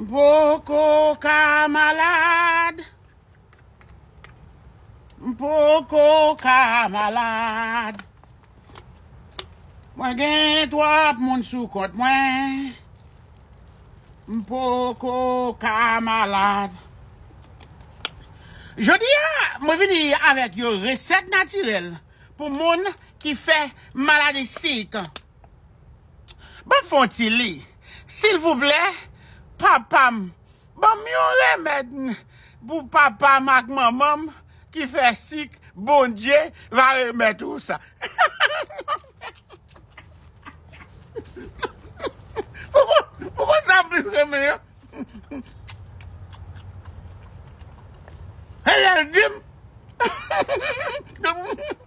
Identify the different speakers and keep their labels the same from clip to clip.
Speaker 1: M poko ka malad. M poko ka malad. Mwen gen twòp moun sou kont mwen. M poko ka malad. Jodi a, mwen vini avèk yon resèt natirèl pou moun ki fè maladi sik. Banm fon ti li silvouplè papam banm yon remed pou papam ak manmanm ki fè sik bondye va remet ou sa pouko sa plis renmen an e lel dim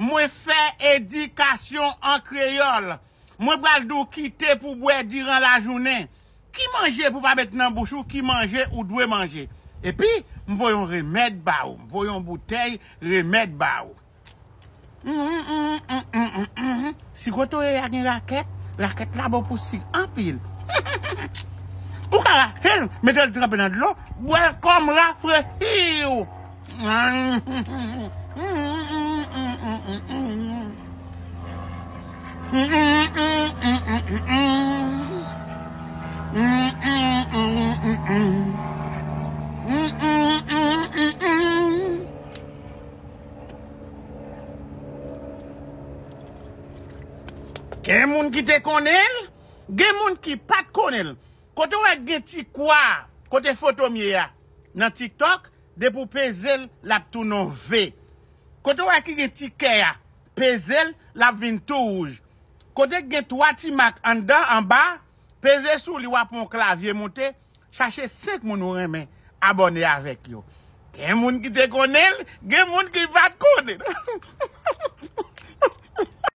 Speaker 1: Mwen fè edikasyon an kreyòl. Mwen pral di w kite pou bwè diran lajounen. Ki manje pou pa met nan bouch ou ki manje ou dwe manje. Epi, m voye yon remèd ba ou. M voye yon boutèy remèd ba ou. Mhumm mhumm mhumm mhumm mhumm mhumm. Si kote w ye ya gen rakèt, rakèt la bon pou sik anpil. Ou ka rache l, mete l tranpe nan dlo, bwè l kòm rafrechiw. Gen moun ki te konnen l, gen moun ki pa t konnen l. Kote w wè gen ti kwa kote foto m ye a nan tiktok, depi w peze l l ap tounen yon V. Kote w wè ki gen ti kè a, peze l l ap vin tou wouj. Kote ki gen twa ti mak anndan anba, peze sou li w ap wè yon klavye monte. Chache 5 moun ou renmen abòne avèk yo. Gen moun ki te konnen l, gen moun ki pat konnen l.